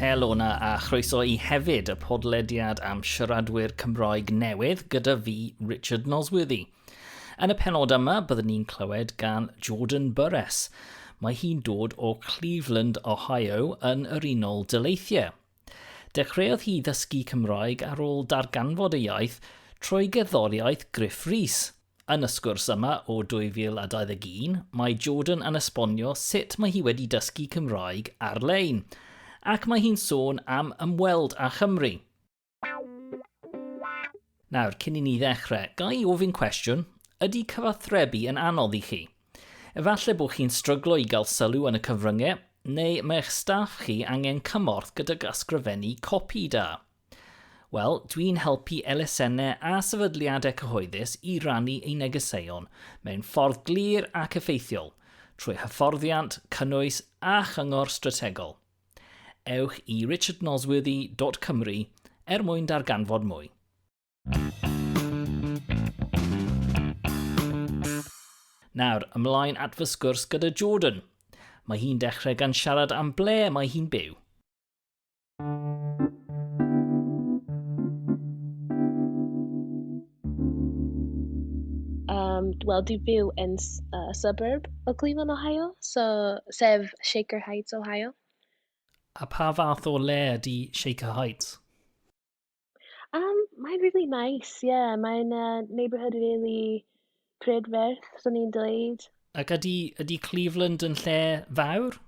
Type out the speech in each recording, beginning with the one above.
Helo na a chroeso i hefyd y podlediad am siaradwyr Cymroeg newydd gyda fi, Richard Nosworthy. Yn y penod yma, byddwn ni'n clywed gan Jordan Burress. Mae hi'n dod o Cleveland, Ohio, yn yr Unol Daleithiau. Dechreuodd hi ddysgu Cymraeg ar ôl darganfod ei iaith trwy gerddoriaeth Gruff Rhys. Yn y sgwrs yma o 2021, mae Jordan yn esbonio sut mae hi wedi dysgu Cymraeg ar-lein, ac mae hi'n sôn am ymweld â Chymru. Nawr, cyn i ni ddechrau, ga i ofyn cwestiwn? Ydy cyfathrebu yn anodd i chi? Efallai bod chi'n stryglo i gael sylw yn y cyfryngau, neu mae eich staff chi angen cymorth gydag ysgrifennu copi da. Wel, dwi'n helpu elusennau a sefydliadau cyhoeddus i rannu eu negeseuon mewn ffordd glir ac effeithiol, trwy hyfforddiant, cynnwys a chyngor strategol. ewch i richardnosworthy.cymru er mwyn darganfod mwy. Nawr, ymlaen at fy sgwrs gyda Jordan. Mae hi'n dechrau gan siarad am ble mae hi'n byw. Um, Wel, dwi byw yn uh, suburb o Cleveland, Ohio, so, sef Shaker Heights, Ohio. A pa fath o le ydy Shaker Heights? Um, mae'n really nice, yeah. Mae'n uh, neighborhood really prydferth, swn i'n dweud. Ac ydy, ydy Cleveland yn lle fawr?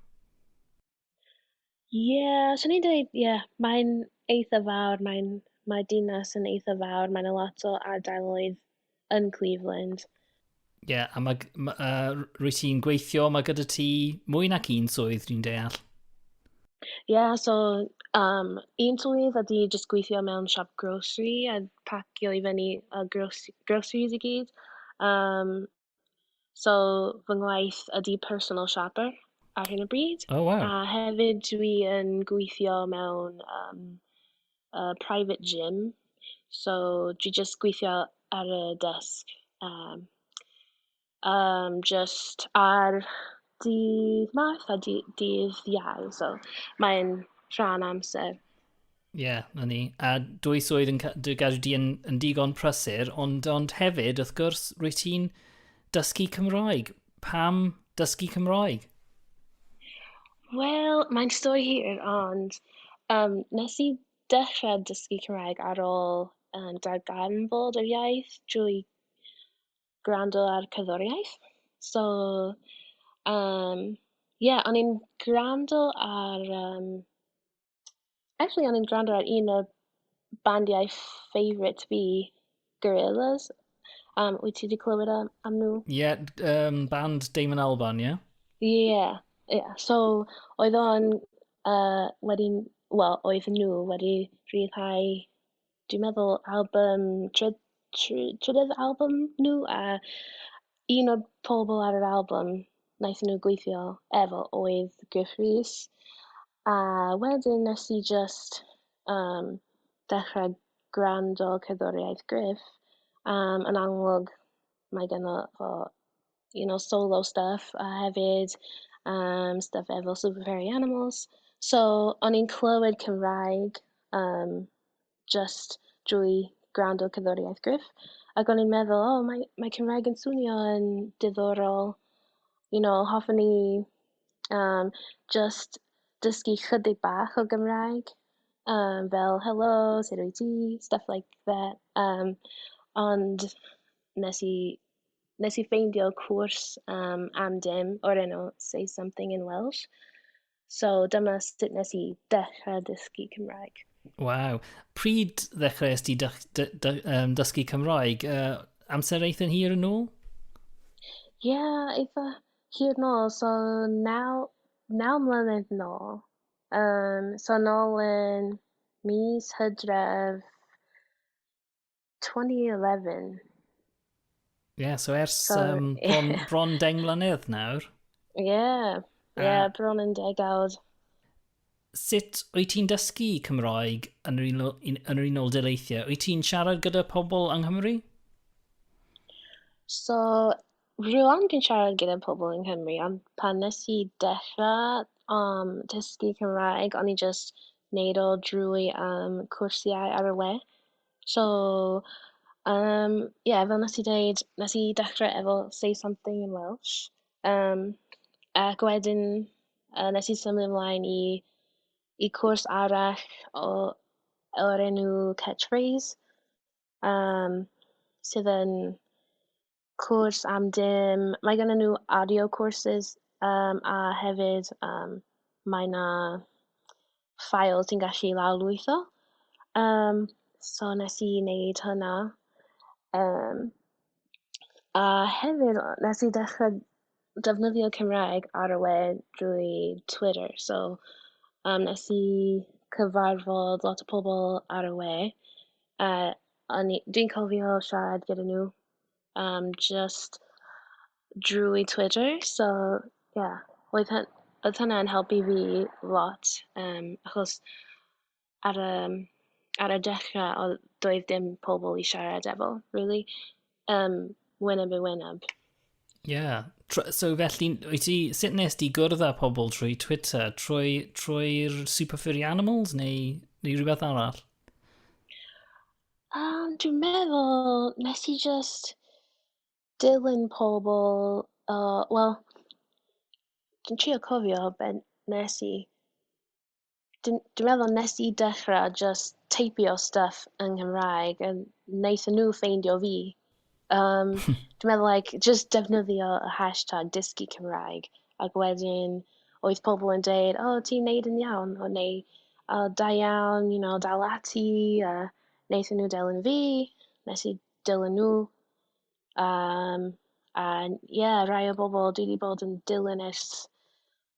Ie, yeah, swn i'n dweud, ie, yeah, mae'n eitha fawr, mae'n... mae'r dinas yn eitha fawr, mae'n a lot o ardaloedd yn Cleveland. Ie, yeah, a mae, ma, uh, rwy ti'n gweithio, mae gyda ti mwy nac un swydd, dwi'n deall. Ie, yeah, so um, un swydd ydy jyst gweithio mewn siop grocery a pacio i fyny uh, groceries i gyd. Um, So fy ngwaith ydy personal shopper ar hyn o bryd. Oh, wow. A hefyd dwi yn gweithio mewn um, uh, private gym. So dwi just gweithio ar y desk. Um, um, just ar dydd math a dydd iau. So mae'n rhan amser. Ie, yeah, na ni. A dwy swydd yn dy gadw di yn, yn digon prysur, ond, ond hefyd, wrth gwrs, rwy ti'n dysgu Cymraeg. Pam dysgu Cymraeg? Wel, mae'n stori hir, ond um, nes i dechrau dysgu Cymraeg ar ôl um, darganfod yr iaith drwy gwrando ar cyddoriaeth. So, um, ie, yeah, o'n i'n gwrando ar um, actually o'n i'n gwrando ar un o bandiau favourite fi, Gorillaz. Um, wyt ti wedi clywed am, am nhw? Ie, yeah, um, band Damon Albarn, ie? Yeah? Ie, yeah, yeah. so oedd o'n uh, wedi, wel, oedd nhw wedi rhyddhau dwi'n meddwl album tryd- try- trydydd album nhw a un o'r pobl ar yr album wnaethon nhw gweithio efo oedd Gruff Rhys a wedyn wnes i jyst yym dechrau gwrando cerddoriaeth Gruff yym yn amlwg mae ganddo fo you know, solo stuff a hefyd um, stuff efo Super Fairy Animals. So, o'n i'n clywed Cymraeg um, just drwy gwrando cyddoriaeth Griff. Ac o'n i'n meddwl, oh, mae, mae Cymraeg yn swnio yn diddorol. You know, hoffwn ni um, just dysgu chydig bach o Gymraeg. Um, fel, hello, sut wyt ti? Stuff like that. Um, ond nes i wnes i ffeindio cwrs um, am dim o'r enw Say Something in Welsh. So dyma sut nes i dechrau dysgu Cymraeg. Waw. Pryd ddechrau ysdi dy, dy, dy, um, dysgu Cymraeg? Uh, amser eitha'n hir yn ôl? Ie, yeah, eitha hir yn ôl. So, naw, naw mlynedd yn ôl. Um, so, nôl yn mis hydref 2011. Ie, yeah, so ers so, um, bron, yeah. bron deng mlynedd nawr. Ie, yeah. ie, yeah, uh, bron yn degawd. Sut wyt ti'n dysgu Cymraeg yn yr, unol, yn yr Unol Daleithiau? Wyt ti'n siarad gyda pobl yng Nghymru? So, rhywun dwi'n siarad gyda pobl yng Nghymru, ond pan nes i dechrau um, dysgu Cymraeg, o'n i just neud o drwy um, cwrsiau ar y we. So, yym, ie, fel wnes i ddeud, wnes i dechrau efo Say Something in Welsh, yym, ac wedyn, yy, wnes i symud ymlaen i i cwrs arall o o'r enw Catch Phrase, yym, sydd yn... cwrs am dim. Mae gennyn nhw audio courses um, a hefyd um, mae yna ffael ti'n gallu lawrlwytho. Um, so nes i wneud hynna. Um, a hefyd nes i ddechrau defnyddio Cymraeg ar y we drwy Twitter. So um, nes i cyfarfod lot o pobl ar y we. Uh, Dwi'n cofio siarad gyda nhw um, just drwy Twitter. So, yeah, oedd, hyn, oedd hynna'n helpu fi lot, um, achos ar y, ar y dechrau, oedd doedd dim pobl i siarad efo, really. Um, wyneb i wyneb. Yeah. So felly, wyt ti, sut nes di gwrdd â pobl trwy Twitter? Trwy'r trwy Super Furry Animals neu, neu rhywbeth arall? Yym, dwi'n meddwl nes i jyst dilyn pobl, yy, wel, dwi'n trio cofio be wnes i. Dwi'n dwi'n meddwl wnes i dechrau jyst teipio stwff yng Nghymraeg, a wnaethon nhw ffeindio fi. Um, dwi'n meddwl, like, just defnyddio y hashtag dysgu Cymraeg, ac wedyn oedd pobl yn dweud, o, oh, ti'n neud yn iawn, o, neu, o, oh, da iawn, you know, dal ati, a uh, wnaethon nhw delyn fi, nes i dilyn nhw. Um, a, ie, yeah, rai o bobl dwi wedi bod yn dilyn ers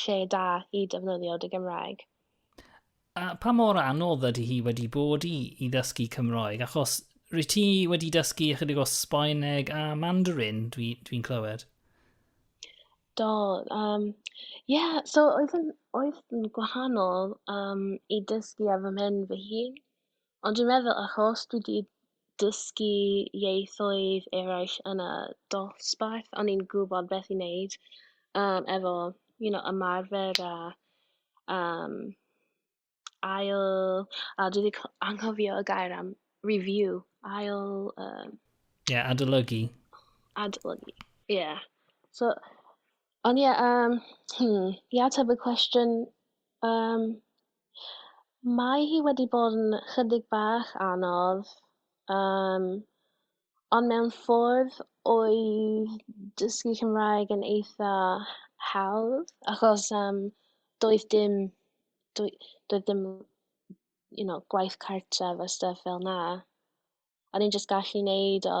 lle da i defnyddio dy Gymraeg. A pa mor anodd ydy hi wedi bod i, i ddysgu Cymroeg? Achos rwy ti wedi dysgu ychydig o Sbaeneg a Mandarin, dwi'n dwi, dwi clywed. Do, um, yeah, so oedd yn, oedd yn gwahanol um, i dysgu ar fy mhen fy hun. Ond dwi'n meddwl achos dwi 'di dysgu ieithoedd eraill yn y dosbarth, o'n i'n gwbod beth i wneud, yym, efo, you know, ymarfer a, yym, ail... A dwi 'di co- anghofio y gair am review, ail, yym... Ie, adolygu. Adolygu, ie. So, ond ie, yym, hmm, i ateb y cwestiwn, yym, Mae hi wedi bod yn chydig bach anodd um, ond mewn ffordd oedd dysgu Cymraeg yn eitha hawdd achos um, doedd dim doedd, doedd dim you know, gwaith cartref a stuff fel na. O'n i'n just gallu neud o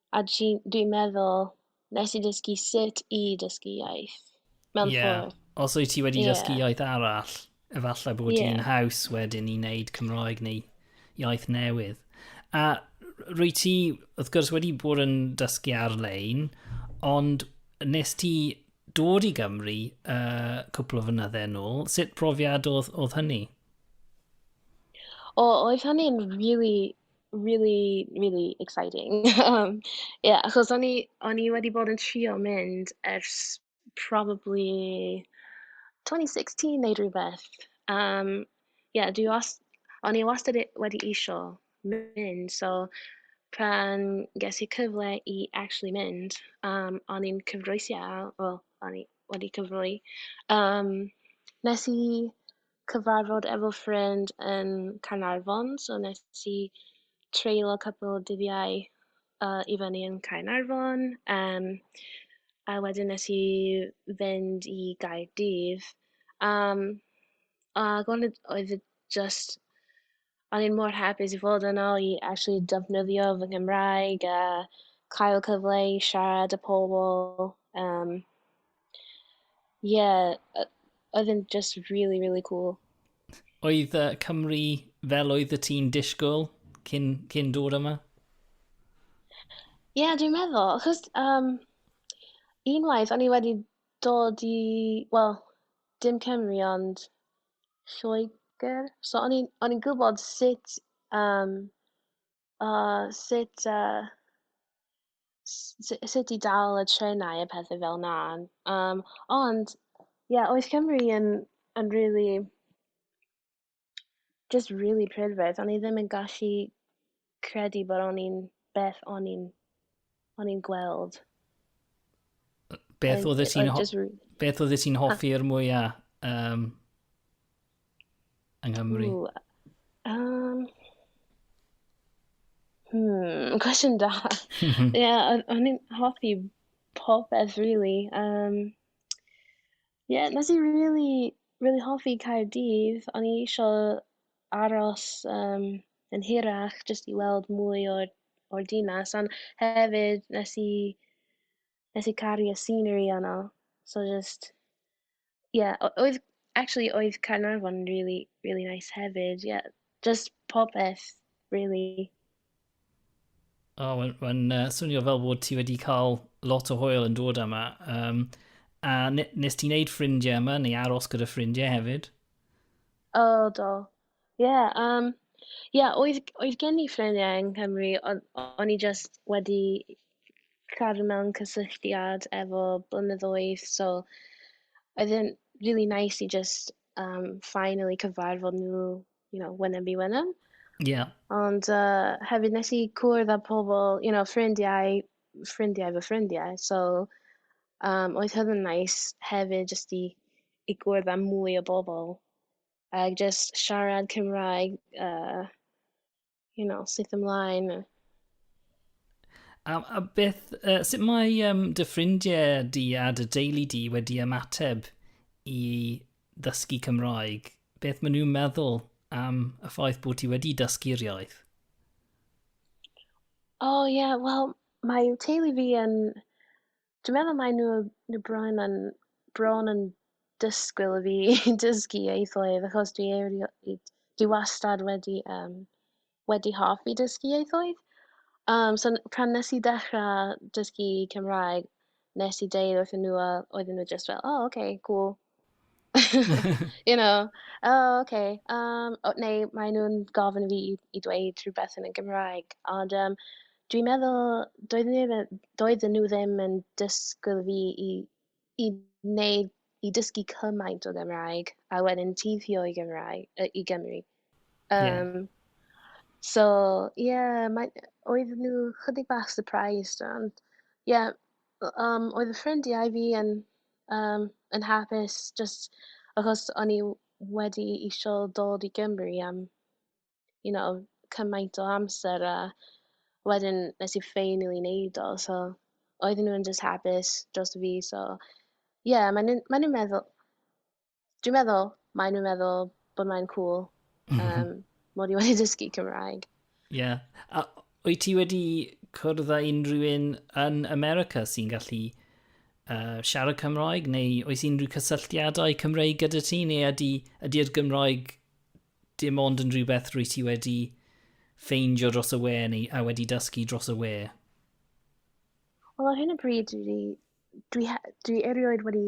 A dwi, dwi meddwl, nes i dysgu sut i dysgu iaith, mewn yeah. ffordd. Os wyt ti wedi yeah. dysgu iaith arall, efallai bod yeah. ti'n haws wedyn i wneud Cymraeg neu iaith newydd. A rwy ti, wrth gwrs, wedi bod yn dysgu ar-lein, ond nes ti dod i Gymru uh, cwpl o fynydde yn ôl, sut profiad oedd, oedd hynny? O, oedd hynny'n really Really, really exciting. um, yeah, achos o'n i, o'n i wedi bod yn trio mynd ers probably 2016 neu rhywbeth. Um, yeah, dwi was, o'n i wastad e- wedi isio mynd, so pan ges i cyfle i actually mynd, um, o'n i'n cyfroes iawn, wel, o'n i wedi cyfroi. Um, nes i cyfarfod efo ffrind yn Caernarfon, so wnes i treulio cwpwl o dyddiau yy i fyny yn Caernarfon. Yym, a wedyn wnes i fynd i Gaerdydd. Yym, ac o'n i... oedd e jyst... o'n i'n mor hapus i fod yno i actually defnyddio fy Nghymraeg a cael cyfle i siarad â pobl yym ie o- oedd e'n jyst rili rili cŵl. Oedd uh, Cymru fel oedd y ti'n disgwyl cyn, cyn dod yma? Ie, yeah, dwi'n meddwl, achos um, unwaith o'n i wedi dod i, wel, dim Cymru ond Lloegr. So o'n i'n o'n i'n gwybod sut yym o sut yy s- s- sut i dal y trenau a pethe fel 'na, yym ond ie oedd Cymru yn yn rili jyst rili prydferth, o'n i ddim yn gallu credu bod o'n i'n beth o'n i'n o'n i'n gweld. Beth oedd ti'n beth oedd ti'n hoffi'r mwyaf um, yng Nghymru? Ooh, um, hmm, cwestiwn da. Ie, yeah, o'n i'n hoffi popeth, really. Um, yeah, nes i really, really hoffi Caerdydd. O'n i eisiau aros yym yn hirach jyst i weld mwy o'r o'r dinas ond hefyd nes i nes i caru y scenery yno so jyst ie o- oedd actually oedd Caernarfon yn rili rili neis hefyd ie jyst popeth rili. O, oh, mae'n uh, swnio fel bod ti wedi cael lot o hwyl yn dod yma. Um, a nes ti'n neud ffrindiau yma, neu aros gyda ffrindiau hefyd? O, oh, do. Ie, yeah, um, yeah, oedd, oedd gen i ffrindiau yng Nghymru, ond o'n i just wedi cadw mewn cysylltiad efo blynyddoedd, so oedd e'n really nice i just um, finally cyfarfod nhw you know, wynem fi wynem. Yeah. Ond uh, hefyd nes i cwrdd â pobl, you know, ffrindiau, ffrindiau fy ffrindiau. So, um, oedd hyn yn nais hefyd jyst i, i gwrdd â mwy o bobl. Ac jyst siarad Cymraeg, uh, you know, syth ymlaen. A, a beth, uh, sut mae um, dy ffrindiau di a dy deulu di wedi ymateb i ddysgu Cymraeg? Beth maen nhw'n meddwl am y ffaith bod ti wedi dysgu'r iaith? O oh, ie, yeah, wel, mae teulu fi yn dwi'n meddwl mae nhw nhw bron yn bron yn dysgwyl i fi dysgu ieithoedd achos dwi erioed... dwi wastad wedi yym wedi hoffi dysgu ieithoedd. Yym so n- pan wnes i dechrau dysgu Cymraeg, wnes i deud wrthyn nhw a oedden nhw jyst fel "O ocê cŵl". you know, oh, okay. Um, o, neu maen nhw'n gofyn i fi i, i dweud rhywbeth yn y Gymraeg. Ond um, dwi'n meddwl, doedden nhw, ddim- doedden nhw ddim yn dysgwyl fi i, i wneud, i dysgu cymaint o Gymraeg, a wedyn teithio i Gymraeg, yy, i Gymru. Ie. Um, so, ie, yeah, mae, oedd nhw chydig bach surprised, ond, ie, yeah, um, oedd y ffrindiau fi yn, um, yn hapus just achos o'n i wedi eisiau dod i Gymru am, you know, cymaint o amser a wedyn nes i ffeinio i wneud o, so oedden nhw'n just hapus dros fi, so ie, yeah, maen nhw'n maen nhw meddwl, dwi meddwl mae nhw'n meddwl bod mae'n cool um, mod i wedi dysgu Cymraeg. Ie. Yeah. A wyt ti wedi cwrdd â unrhyw un yn America sy'n gallu uh, siarad Cymraeg neu oes unrhyw cysylltiadau Cymraeg gyda ti neu ydy, ydy'r Gymraeg dim ond yn rhywbeth rwy ti wedi ffeindio dros y we neu a wedi dysgu dros y we? Wel, ar hyn o bryd, dwi, dwi, dwi erioed wedi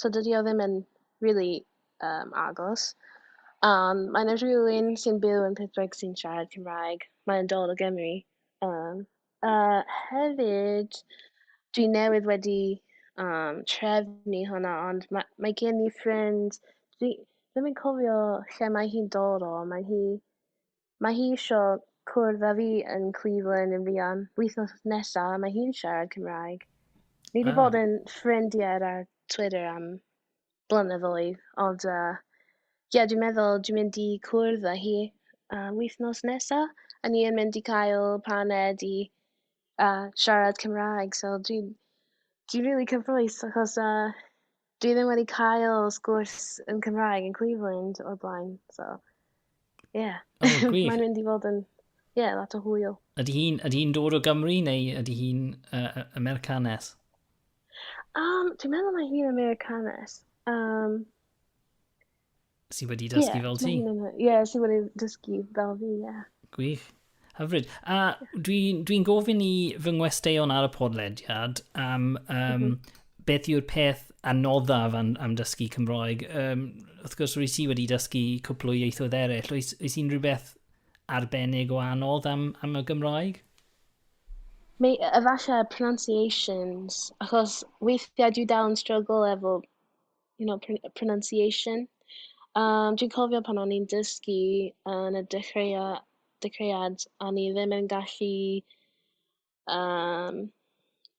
so dydy o ddim yn rili yym agos, ond mae 'na rywun sy'n byw yn Prydwyn sy'n siarad Cymraeg, mae'n dod o Gymru, yym, a hefyd dwi newydd wedi yym trefnu hwnna, ond ma' mae gen i ffrind, dwi ddim yn cofio lle mae hi'n dod o, mae hi Mae hi isio cwrdd â fi yn Cleveland yn fuan. Wythnos nesa, mae hi'n siarad Cymraeg. Ni wedi bod yn ffrindiau ar Twitter am blynyddoedd, ond yy, ie, dwi'n meddwl dwi'n mynd i cwrdd â hi am wythnos nesa. A ni yn mynd i cael paned i yy siarad Cymraeg, so dwi'n dwi'n rili cyffrous achos yy dwi ddim wedi cael sgwrs yn Cymraeg yn Cleveland o'r blaen, so, ie. Yeah. Oh, Mae'n mynd i fod yn, ie, yeah, lot o hwyl. Ydy hi'n hi dod o Gymru neu ydy hi'n uh, Americanes? Um, dwi'n meddwl mae hi'n Americanes. Um, sydd wedi dysgu yeah, fel ti. Ie, yeah, sydd wedi dysgu fel fi, ie. Yeah. Gwych. Hyfryd. A dwi'n dwi, gofyn i fy ngwesteion ar y podlediad am um, mm -hmm. beth yw'r peth anoddaf am, am dysgu Cymroeg. Um, wrth gwrs, rwy si wedi dysgu cwpl o ieithoedd eraill. Oes, oes unrhyw beth arbennig o anodd am, am y Gymroeg? Mae efallai pronunciations, achos weithiau dwi dal yn struggle efo you know, pr- pronunciation. Um, dwi'n cofio pan o'n i'n dysgu yn y dechreuia, dechreuad, a ni ddim yn gallu um,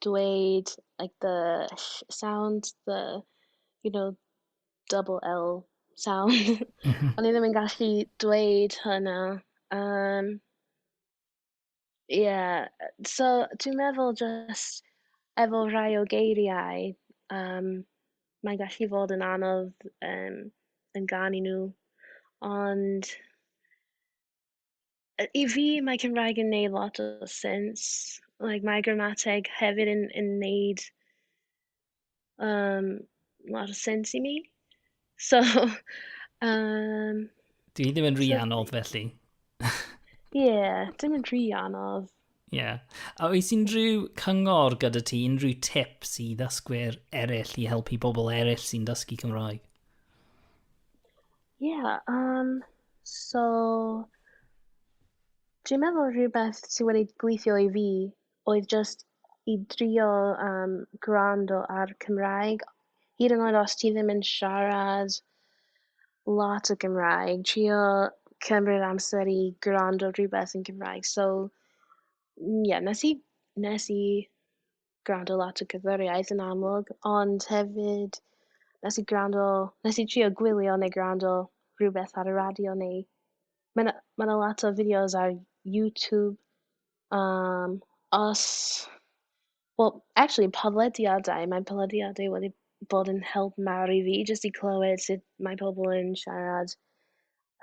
dweud like the sound, the, you know, double L sound. Mhm. o'n i ddim yn gallu dweud hynna. Um, Ie, yy, so dwi'n meddwl jyst efo rhai o geiriau, yym, mae'n gallu fod yn anodd, yym, yn ganu nhw, ond yy i fi mae Cymraeg yn neud lot o sense, like mae'r gramateg hefyd yn yn neud um, a lot of sense i mi. So, um, Dwi ddim yn rhi so, anodd felly. Ie, yeah, dim yn rhi anodd. Ie. Yeah. A oes unrhyw cyngor gyda ti, unrhyw tips i ddysgwyr eraill i helpu bobl eraill sy'n dysgu Cymraeg? Ie, yeah, um, so... Dwi'n meddwl rhywbeth sy'n wedi gweithio i fi oedd jyst i drio yym gwrando ar Cymraeg hyd yn oed os ti ddim yn siarad lot o Gymraeg trio cymryd amser i gwrando rhywbeth yn Gymraeg so ie nes i nes i gwrando lot o gerddoriaeth yn amlwg ond hefyd nes i gwrando... nes i trio gwylio neu gwrando rhywbeth ar y radio neu Mae 'na mae 'na lot o fideos ar YouTube yym os... wel acshyli podlediadau, mae podlediadau wedi bod yn help mawr i fi jyst i clywed sut mae pobl yn siarad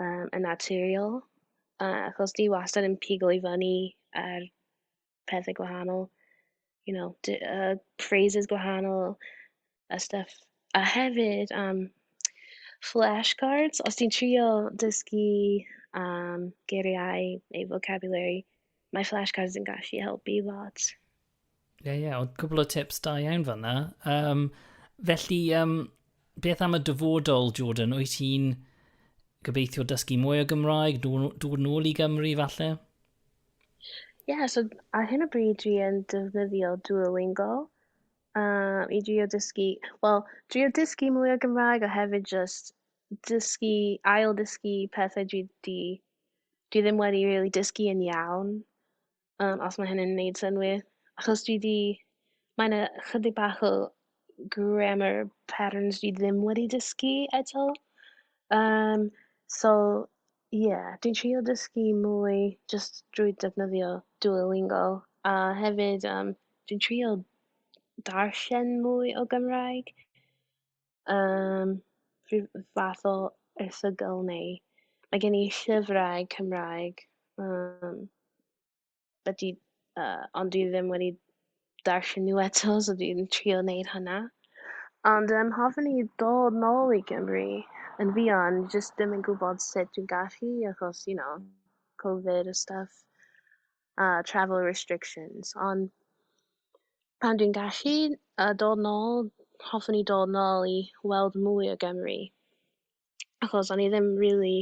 yym yn naturiol yy achos dwi wastad yn pigo i fyny ar pethe gwahanol you know d- yy phrases gwahanol a stuff a hefyd am flashcards os ti'n trio dysgu am geiriau neu vocabulary mae flashcards yn gallu helpu lot. Ie, yeah, ie, yeah. ond cwbl o tips da iawn fanna. Um, felly, um, beth am y dyfodol, Jordan? Wyt ti'n gobeithio dysgu mwy o Gymraeg, dod nôl i Gymru falle? Ie, yeah, so ar hyn o bryd dwi yn defnyddio Duolingo uh, i drio dysgu, wel, drio dysgu mwy o Gymraeg a hefyd just dysgu, ail dysgu pethau dwi, di, dwi ddim wedi really dysgu yn iawn, um, os mae hynny'n neud synwyr. Achos dwi di, mae'n yna chydig bach o grammar patterns dwi ddim wedi dysgu eto. Um, so, Ie, dwi'n trio dysgu mwy jyst drwy defnyddio Duolingo, a hefyd yym dwi'n trio darllen mwy o Gymraeg, yym rhyw fath o erthygl neu mae gen i llyfrau Cymraeg yym... ydy, uh, ond dwi ddim wedi darllen nhw eto, so dwi'n trio wneud hynna. Ond um, hoffwn i dod nôl i Gymru yn fuan, jyst ddim yn gwybod sut dwi'n gallu, achos, you know, Covid a stuff, a uh, travel restrictions. Ond pan dwi'n gallu uh, dod nôl, hoffwn i dod nôl i weld mwy o Gymru. achos o'n i ddim rili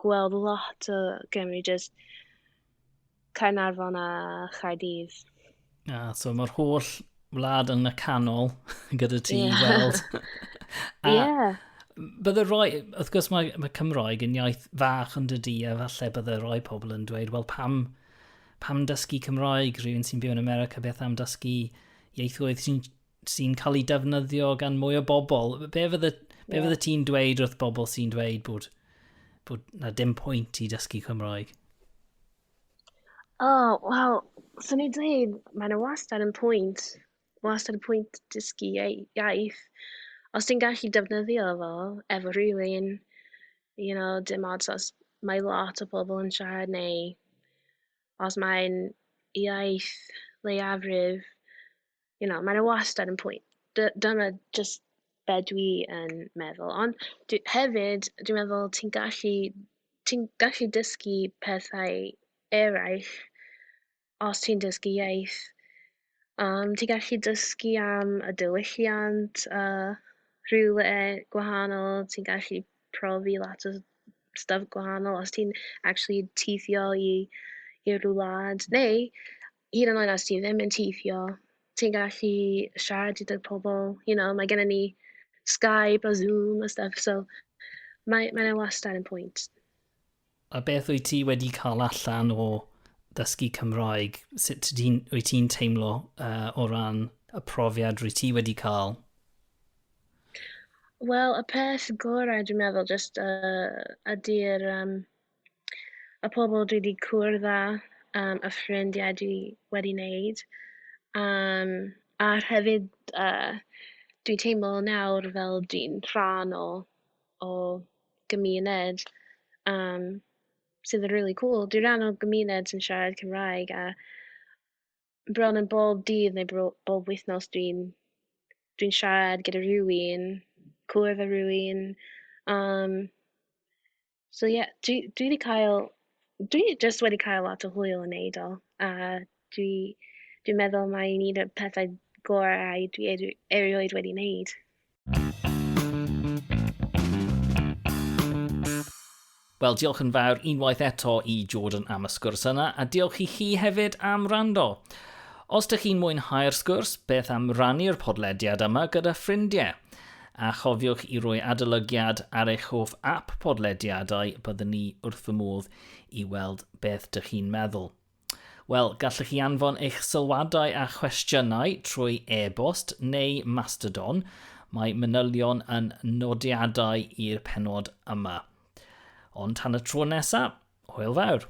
gweld lot o Gymru, jyst Caernarfon a Chaerdydd. A, ah, so mae'r holl wlad yn y canol gyda ti yeah. i weld. a, yeah. Bydde roi, wrth gwrs mae, mae Cymroeg yn iaith fach yn dydy, a falle bydde roi pobl yn dweud, wel pam, pam dysgu Cymroeg, rhywun sy'n byw yn America, beth am dysgu ieithoedd sy'n sy'n cael ei defnyddio gan mwy o bobl. Be fydde, be yeah. fydde ti'n dweud wrth bobl sy'n dweud bod, bod na dim pwynt i dysgu Cymraeg? O, oh, wel, sy'n ei dweud, mae yna wastad yn pwynt. Wastad yn pwynt dysgu iaith. Os ti'n gallu defnyddio fo efo rhywun, you know, dim ots os mae lot o bobl yn siarad neu os mae'n iaith leiafrif, you know, mae yna wastad yn pwynt. Dyna jyst be dwi yn meddwl. Ond dwi, hefyd, dwi'n meddwl ti'n gallu, ti'n gallu dysgu pethau eraill os ti'n dysgu iaith. Um, ti'n gallu dysgu am y diwylliant a rhywle gwahanol, ti'n gallu profi lot o stwff gwahanol os ti'n actually teithio i i'r wlad neu hyd yn oed os ti ddim yn teithio, ti'n gallu siarad gyda pobl, you know, mae gennym ni Skype a Zoom a stwff, so mae mae 'na wastad yn pwynt. A beth wyt ti wedi cael allan o ddysgu Cymraeg? Sut ti, wyt ti'n teimlo uh, o ran y profiad rwy ti wedi cael? Wel, y peth gorau dwi'n meddwl, jyst uh, ydy'r um, y pobl dwi 'di cwrdd â yym y ffrindiau dwi wedi 'neud yym a hefyd yy dwi'n teimlo nawr fel dwi'n rhan o o gymuned yym sydd yn rili cŵl dwi ran o gymuned sy'n siarad Cymraeg a bron yn bob dydd neu bro- bob wythnos dwi'n dwi'n siarad gyda rhywun, cwrdd â rhywun. Um, so ie, yeah, dwi, dwi wedi cael... Dwi jyst wedi cael lot o hwyl yn neud o, a dwi dwi'n meddwl mai un o'r pethau gorau dwi erio- erioed wedi neud. Wel, diolch yn fawr unwaith eto i Jordan am y sgwrs yna, a diolch i chi hefyd am rando. Os ydych chi'n mwynhau'r sgwrs, beth am rannu'r podlediad yma gyda ffrindiau? A chofiwch i roi adolygiad ar eich hoff app podlediadau, byddwn ni wrth fy modd i weld beth dych chi'n meddwl. Wel, gallwch chi anfon eich sylwadau a chwestiynau trwy e-bost neu Mastodon. Mae manylion yn nodiadau i'r penod yma. Ond tan y tro nesaf, hwyl fawr!